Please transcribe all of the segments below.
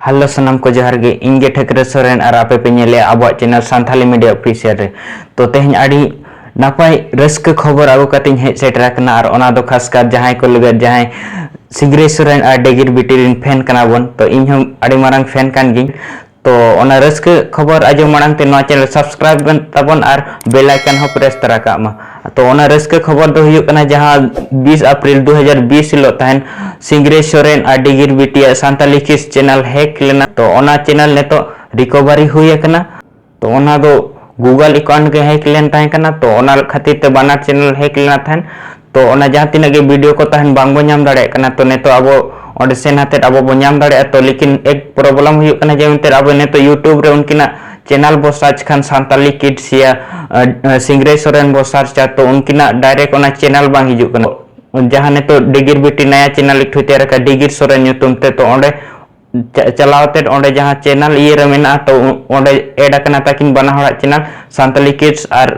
hello ᱥᱟᱱᱟᱢ ᱠᱚ ᱡᱚᱦᱟᱨ ᱜᱮ ᱤᱧ ᱜᱮ ᱴᱷᱟᱹᱠᱨᱟᱹ ᱥᱚᱨᱮᱱ ᱟᱨ ᱟᱯᱮ ᱯᱮ ᱧᱮᱞᱮᱜᱼᱟ ᱟᱵᱚᱣᱟᱜ ᱪᱮᱱᱮᱞ ᱥᱟᱱᱛᱷᱟᱞᱤ ᱢᱤᱰᱤᱭᱟ ᱚᱯᱷᱤᱥᱤᱭᱟᱞ ᱨᱮ ᱛᱚ ᱛᱮᱦᱮᱧ ᱟᱹᱰᱤ ᱱᱟᱯᱟᱭ ᱨᱟᱹᱥᱠᱟᱹ ᱠᱷᱚᱵᱚᱨ ᱟᱹᱜᱩ ᱠᱟᱛᱮᱧ ᱦᱮᱡ ᱥᱮᱴᱮᱨ ᱟᱠᱟᱱᱟ ᱟᱨ ᱚᱱᱟ ᱫᱚ ᱠᱷᱟᱥ ᱠᱟᱨ ᱡᱟᱦᱟᱸᱭ ᱠᱚ ᱞᱟᱹᱜᱤᱫ ᱡᱟᱦᱟᱸᱭ ᱥᱤᱜᱽᱨᱟᱹᱭ ᱥᱚᱨᱮᱱ ᱟᱨ ᱰᱮᱜᱤᱨ ᱵᱤᱴᱤ ᱨᱮᱱ ᱯᱷᱮᱱ ᱠᱟᱱᱟ ᱵᱚᱱ ᱛᱚ ᱤᱧ ᱦᱚᱸ ᱟᱹᱰᱤ ᱢᱟᱨᱟᱝ ᱯᱷᱮᱱ ᱠᱟᱱ ᱜᱤᱧ ᱛᱚ ᱚᱱᱟ ᱨᱟᱹᱥᱠᱟᱹ ᱠᱷᱚᱵᱚᱨ ᱟᱸᱡᱚᱢ ᱢᱟᱲᱟᱝ ᱛᱮ ᱱᱚᱣᱟ ᱪᱮᱱᱮᱞ ᱥᱟᱵᱥᱠᱨᱟᱭᱤᱵ ᱵᱮᱱ ᱛᱟᱵᱚᱱ ᱟᱨ ᱵᱮᱞ ᱟᱭᱠᱚᱱ ᱦᱚᱸ ᱯᱨᱮᱥ ᱛᱟᱨᱟ ᱠᱟᱜ ᱢᱟ ᱛᱚ ᱚᱱᱟ ᱨᱟᱹᱥᱠᱟᱹ ᱠᱷᱚᱵᱚᱨ ᱫᱚ ᱦᱩᱭᱩᱜ ᱠᱟᱱᱟ ᱡᱟᱦᱟᱸ 20 ᱟᱯᱨᱤᱞ 2020 ᱦᱤᱞᱳᱜ ᱛᱟᱦᱮᱱ ᱥᱤᱝᱜᱨᱮ ᱥᱚᱨᱮᱱ ᱟᱨ ᱰᱤᱜᱤᱨ ᱵᱤᱴᱤᱭᱟᱜ ᱥᱟᱱᱛᱟᱞᱤ ᱠᱤᱥ ᱪᱮᱱᱮᱞ ᱦᱮᱠ ᱞᱮᱱᱟ ᱛᱚ ᱚᱱᱟ ᱪᱮᱱᱮᱞ ᱱᱤᱛᱚᱜ ᱨᱤᱠᱚᱵᱷᱟᱨᱤ ᱦᱩᱭ ᱟᱠᱟᱱᱟ ᱛᱚ ᱚᱱᱟ ᱫᱚ ᱜᱩᱜᱚᱞ ᱮᱠᱟᱣᱩᱱᱴ ᱜᱮ ᱦᱮᱠ ᱞᱮᱱ ᱛᱟᱦᱮᱸ ᱠᱟᱱᱟ ᱛᱚ ᱚᱱᱟ ᱠᱷᱟᱹᱛᱤᱨ ᱛᱮ ᱵᱟᱱᱟᱨ ᱪᱮᱱᱮᱞ ᱦᱮᱠ ᱞᱮᱱᱟ ᱛᱟᱦᱮᱸᱱ ᱛᱚ ᱚᱱᱟ ᱡᱟᱦᱟᱸ ᱛᱤᱱᱟᱹᱜ ᱜᱮ ᱵᱷᱤᱰᱤᱭᱳ ᱠᱚ ᱛᱟᱦᱮᱸᱱ ᱵᱟᱝ ᱵᱚ ᱧᱟᱢ ᱫᱟᱲᱮᱭᱟᱜ ᱠᱟᱱᱟ ᱛᱚ ᱱᱤᱛᱚᱜ ᱟᱵᱚ ᱚᱸᱰᱮ ᱥᱮᱱ ᱦᱟᱛᱮᱫ ᱟᱵᱚ ᱵᱚ ᱧᱟᱢ ᱫᱟᱲᱮᱭᱟᱜᱼᱟ ᱛᱚ ᱞᱮᱠᱤᱱ ᱮᱠ ᱯᱨᱚᱵᱞᱮᱢ ᱦᱩᱭᱩᱜ ᱠᱟᱱᱟ ᱡᱮ ᱮᱱᱛᱮᱫ ᱟᱵᱚ ᱱᱤᱛᱚᱜ ᱭᱩᱴᱩᱵᱽ ᱨᱮ ᱩᱱᱠᱤᱱᱟᱜ ᱪᱮᱱᱮᱞ ᱵᱚ ᱥᱟᱨᱪ ᱠᱷᱟᱱ ᱥᱟᱱᱛᱟᱞᱤ ᱠᱤᱰᱥ ᱭᱟ ᱥᱤᱝᱨᱟᱹᱭ ᱥᱚᱨᱮᱱ ᱵᱚ ᱥᱟᱨᱪᱟ ᱛᱚ ᱩᱱᱠᱤᱱᱟᱜ ᱰᱟᱭᱨᱮᱠᱴ ᱚᱱᱟ ᱪᱮᱱᱮᱞ ᱵᱟᱝ ᱦᱤᱡᱩᱜ ᱠᱟᱱᱟ ᱡᱟᱦᱟᱸ ᱱᱤᱛᱚᱜ ᱰᱤᱜᱤᱨ ᱵᱤᱴᱤ ᱱᱟᱭᱟ ᱪᱮᱱᱮᱞ ᱮᱠᱴᱷᱩᱭ ᱛᱮᱭᱟᱨ ᱟᱠᱟᱫ ᱰᱤᱜᱤᱨ ᱥᱚᱨᱮᱱ ᱧᱩᱛᱩᱢ ᱛᱮ ᱛᱚ ᱚᱸᱰᱮ ᱪᱟᱞᱟᱣ ᱛᱮ ᱚᱸᱰᱮ ᱡᱟᱦᱟᱸ ᱪᱮᱱᱮᱞ ᱤᱭᱟᱹ ᱨᱮ ᱢᱮᱱᱟᱜᱼᱟ ᱛᱚ ᱚᱸᱰᱮ ᱮᱰ ᱟᱠᱟᱱᱟ ᱛᱟᱹᱠᱤᱱ ᱵᱟᱱᱟ ᱦᱚᱲᱟᱜ ᱪᱮᱱᱮᱞ ᱥᱟᱱᱛᱟᱞᱤ ᱠᱤᱰᱥ ᱟᱨ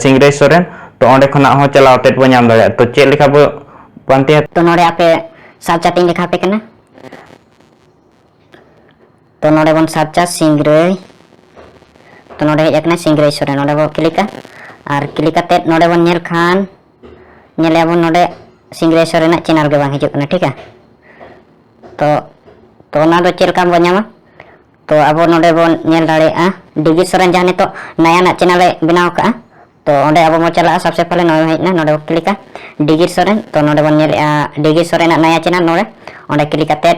ᱥᱤᱝᱨᱟᱹᱭ ᱥᱚᱨᱮᱱ ᱛᱚ ᱚᱸᱰᱮ ᱠᱷᱚᱱᱟᱜ ᱦᱚᱸ ᱪᱟᱞᱟᱣ ᱛᱮ ᱵᱚ ᱧᱟᱢ ᱫᱟᱲᱮᱭᱟᱜᱼᱟ ᱛᱚ ᱪᱮᱫ ᱞᱮᱠᱟ ᱵᱚ ᱯᱟᱱᱛᱮᱭᱟ ᱛᱚ ᱱᱚᱰᱮ ᱟᱯᱮ ᱥᱟᱵ ᱪᱟᱴᱤᱧ ᱞᱮᱠᱷᱟ ᱯᱮ ᱠᱟᱱᱟ ᱛᱚ ᱱᱚᱰᱮ ᱵᱚᱱ ᱥᱟᱵ ᱪᱟ ᱥᱤᱝᱨᱟᱹᱭ ᱛᱚ ᱱᱚᱰᱮ ᱦᱮᱡ ᱟᱠᱟᱱᱟ ᱥᱤᱝᱨᱟᱹᱭ ᱥᱚᱨᱮᱱ ᱱᱚᱰᱮ ᱵᱚ ᱠᱞᱤᱠᱟ ᱟᱨ ᱠᱞᱤᱠ ᱠᱟᱛᱮ ᱱᱚᱰᱮ ᱵᱚᱱ ᱧᱮᱞ ᱠᱷᱟᱱ ᱧᱮᱞᱮ ᱟᱵᱚᱱ ᱱᱚᱰᱮ ᱥᱤᱝᱜᱽᱨᱮᱥᱚᱨ ᱨᱮᱱᱟᱜ ᱪᱮᱱᱮᱞ ᱜᱮ ᱵᱟᱝ ᱦᱤᱡᱩᱜ ᱠᱟᱱᱟ ᱴᱷᱤᱠᱟ ᱛᱚ ᱛᱚ ᱚᱱᱟ ᱫᱚ ᱪᱮᱫ ᱞᱮᱠᱟ ᱵᱚᱱ ᱧᱟᱢᱟ ᱛᱚ ᱟᱵᱚ ᱱᱚᱰᱮ ᱵᱚᱱ ᱧᱮᱞ ᱫᱟᱲᱮᱭᱟᱜᱼᱟ ᱰᱤᱜᱤ ᱥᱚᱨᱮᱱ ᱡᱟᱦᱟᱸ ᱱᱤᱛᱚᱜ ᱱᱟᱭᱟᱱᱟᱜ ᱪᱮᱱᱮᱞ ᱮ ᱵᱮᱱᱟᱣ ᱠᱟᱜᱼᱟ ᱛᱚ ᱚᱸᱰᱮ ᱟᱵᱚ ᱵᱚᱱ ᱪᱟᱞᱟᱜᱼᱟ ᱥᱚᱵᱥᱮ ᱯᱟᱦᱞᱮ ᱱᱚᱜᱼᱚᱭ ᱦᱮᱡ ᱮᱱᱟ ᱱᱚᱰᱮ ᱵᱚᱱ ᱠᱞᱤᱠᱟ ᱰᱤᱜᱤ ᱥᱚᱨᱮᱱ ᱛᱚ ᱱᱚᱰᱮ ᱵᱚᱱ ᱧᱮᱞᱮᱜᱼᱟ ᱰᱤᱜᱤ ᱥᱚᱨᱮᱱᱟᱜ ᱱᱟᱭᱟ ᱪᱮᱱᱮᱞ ᱱᱚᱰᱮ ᱚᱸᱰᱮ ᱠᱞᱤᱠ ᱠᱟᱛᱮᱫ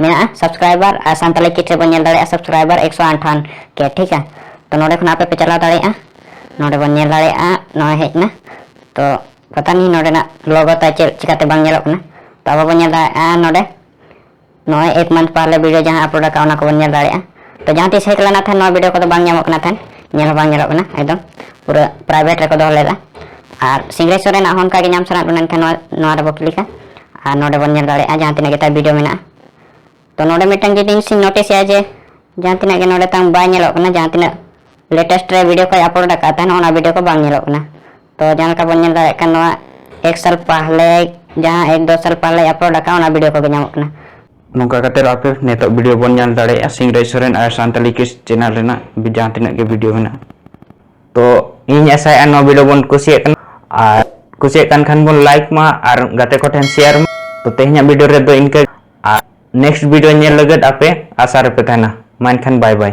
ᱢᱮᱱᱟᱜᱼᱟ ᱥᱟᱵᱥᱠᱨᱟᱭᱵᱟᱨ ᱟᱨ ᱥᱟᱱᱛᱟᱞᱤ ᱠᱤᱴ ᱨᱮᱵᱚᱱ ᱧᱮᱞ ᱫᱟᱲᱮᱭᱟᱜᱼᱟ ᱥᱟᱵᱥᱠᱨᱟᱭᱵᱟᱨ ᱮᱠᱥᱚ ᱟᱴᱷᱟᱱ ᱠᱮ ᱴᱷᱤᱠᱟ ᱛᱚ ᱱᱚᱰᱮ ᱠᱷᱚᱱ ᱟᱯᱮ ᱯᱮ ᱪᱟᱞᱟᱣ ᱫᱟᱲᱮᱭᱟᱜᱼᱟ ᱱᱚᱰᱮ ᱵᱚᱱ ᱧᱮᱞ ᱫᱟᱲᱮᱭᱟᱜᱼᱟ ᱱᱚᱜᱼᱚᱭ ᱦᱮᱡ ᱮᱱᱟ ᱛᱚ ᱯᱟᱛᱟ ᱱᱤ ᱱᱚᱰᱮᱱᱟᱜ ᱞᱚᱜᱚ ᱛᱟᱭ ᱪᱮᱫ ᱪᱤᱠᱟᱛᱮ ᱵᱟᱝ ᱧᱮᱞᱚᱜ ᱠᱟᱱᱟ ᱛᱚ ᱟᱵᱚ ᱵᱚᱱ ᱧᱮᱞ ᱫᱟᱲᱮᱭᱟᱜᱼᱟ ᱱᱚᱰᱮ ᱱᱚᱜᱼᱚᱭ ᱮᱠ ᱢᱟᱱᱛᱷ ᱯᱟᱦᱞᱮ ᱵᱷᱤᱰᱤᱭᱳ ᱡᱟᱦᱟᱸ ᱟᱯᱞᱳᱰ ᱟᱠᱟᱫ ᱚᱱᱟ ᱠᱚᱵᱚᱱ ᱧᱮᱞ ᱫᱟᱲᱮᱭᱟᱜᱼᱟ ᱛᱚ ᱡᱟᱦᱟᱸ ᱛᱤᱥ ᱦᱮᱡ ᱞᱮᱱᱟ ᱛᱟᱦᱮᱸᱫ ᱱᱚᱣᱟ ᱵᱷᱤᱰᱤᱭᱳ ᱠᱚᱫᱚ ᱵᱟᱝ ᱧᱟᱢᱚᱜ ᱠᱟᱱᱟ ᱛᱟᱦᱮᱸᱫ ᱧᱮᱞ ᱦᱚᱸ ᱵᱟᱝ ᱧᱮᱞᱚᱜ ᱠᱟᱱᱟ ᱮᱠᱫᱚᱢ ᱯᱩᱨᱟᱹ ᱯᱨᱟᱭᱵᱷᱮᱴ ᱨᱮᱠᱚ ᱫᱚᱦᱚ ᱞᱮᱫᱟ ᱟᱨ ᱥᱤᱝᱨᱮᱡᱽ ᱥᱚᱨᱮᱱᱟᱜ ᱦᱚᱸ ᱚᱱᱠᱟᱜᱮ ᱧᱟᱢ ᱥᱟᱱᱟᱭᱮᱫ ᱵᱚᱱᱟ ᱮᱱᱠᱷᱟᱱ ᱱᱚᱣᱟ ᱱᱚᱣᱟ ᱨᱮᱵᱚ ᱠᱞᱤᱠᱟ ᱟᱨ ᱱᱚᱰᱮ ᱵᱚᱱ ᱧᱮᱞ ᱫᱟᱲᱮᱭᱟᱜᱼᱟ ᱡᱟᱦᱟᱸ ᱛᱤᱱᱟᱹᱜ ᱜᱮ ᱛᱟᱭ ᱵᱷᱤᱰᱤᱭᱳ ᱢᱮᱱᱟᱜᱼᱟ ᱛᱚ ᱱᱚᱰᱮ ᱢᱤᱫᱴᱟᱝ ᱡᱤᱱᱤᱥ ᱤᱧ ᱱᱳᱴᱤᱥᱮᱜᱼᱟ ᱡᱮ ᱡᱟᱦᱟᱸ ᱛᱤᱱᱟᱹᱜ ᱜᱮ ᱱᱚᱰᱮ ᱛᱟᱝ ᱵᱟᱭ ᱧᱮᱞᱚᱜ ᱠᱟᱱᱟ ᱡᱟᱦᱟᱸ ᱛᱤᱱᱟᱹᱜ ᱞᱮᱴᱮᱥᱴ ᱨᱮ ᱵᱷᱤᱰᱤᱭᱳ ᱠᱚᱭ ᱟᱯᱞᱳᱰ ᱟᱠᱟᱫ ᱛᱟᱦᱮᱱ ᱚᱱᱟ ᱵᱷᱤᱰᱤᱭᱳ ᱠᱚ ᱵᱟᱝ ᱧᱮᱞᱚᱜ ᱠᱟᱱᱟ ᱛᱚ ᱡᱟᱦᱟᱸ ᱞᱮᱠᱟ ᱵᱚᱱ ᱧᱮᱞ ᱫᱟᱲᱮᱭᱟᱜ ᱠᱟᱱ ᱱᱚᱣᱟ ᱮᱠ ᱥᱟᱞ ᱯᱟᱦᱞᱮ ᱡᱟᱦᱟᱸ ᱮᱠ ᱫᱚ ᱥᱟᱞ ᱯᱟᱦᱞᱮ ᱟᱯᱞᱳᱰ ᱟᱠᱟᱫ ᱚᱱᱟ ᱵᱷᱤᱰᱤᱭᱳ ᱠᱚᱜᱮ ᱧᱟᱢᱚᱜ ᱠᱟᱱᱟ ᱱᱚᱝᱠᱟ ᱠᱟᱛᱮ ᱟᱯᱮ ᱱᱤᱛᱚᱜ ᱵᱷᱤᱰᱤᱭᱳ ᱵᱚᱱ ᱧᱮᱞ ᱫᱟᱲᱮᱭᱟᱜᱼᱟ ᱥᱤᱝᱨᱟᱡᱽ ᱥᱚᱨᱮᱱ ᱟᱨ ᱥᱟᱱᱛᱟᱞᱤ ᱠᱤᱥ ᱪᱮᱱᱮᱞ ᱨᱮᱱᱟᱜ ᱡᱟᱦᱟᱸ ᱛᱤᱱᱟᱹᱜ ᱜᱮ ᱵᱷᱤᱰᱤᱭᱳ ᱢᱮᱱᱟᱜᱼᱟ ᱛᱚ ᱤᱧ ᱟᱥᱟᱭᱮᱫᱼᱟ ᱱᱚᱣᱟ ᱵᱷᱤᱰᱤᱭᱳ ᱵᱚᱱ ᱠᱩᱥᱤᱭᱟᱜ ᱠᱟᱱᱟ ᱟᱨ ᱠᱩᱥᱤᱭᱟᱜ ᱠᱟᱱ ᱠᱷᱟᱱ ᱵᱚᱱ ᱞᱟᱭᱤᱠ ᱢᱟ ᱟᱨ ᱜᱟᱛᱮ ᱠᱚ ᱴᱷᱮᱱ ᱥᱮᱭᱟᱨ ᱢᱟ ᱛᱚ ᱛᱮᱦᱮᱧᱟᱜ ᱵᱷᱤᱰᱤᱭᱳ ᱨᱮᱫᱚ ᱤᱱᱠᱟᱹ ᱟᱨ ᱱᱮᱠᱥᱴ ᱵᱷᱤᱰᱤᱭᱳ ᱧᱮᱞ ᱞᱟᱹᱜᱤᱫ ᱟᱯᱮ ᱟᱥᱟ ᱨᱮᱯᱮ ᱛᱟᱦᱮᱱᱟ ᱢᱟ ᱮᱱᱠᱷᱟᱱ ᱵᱟᱭ ᱵᱟᱭ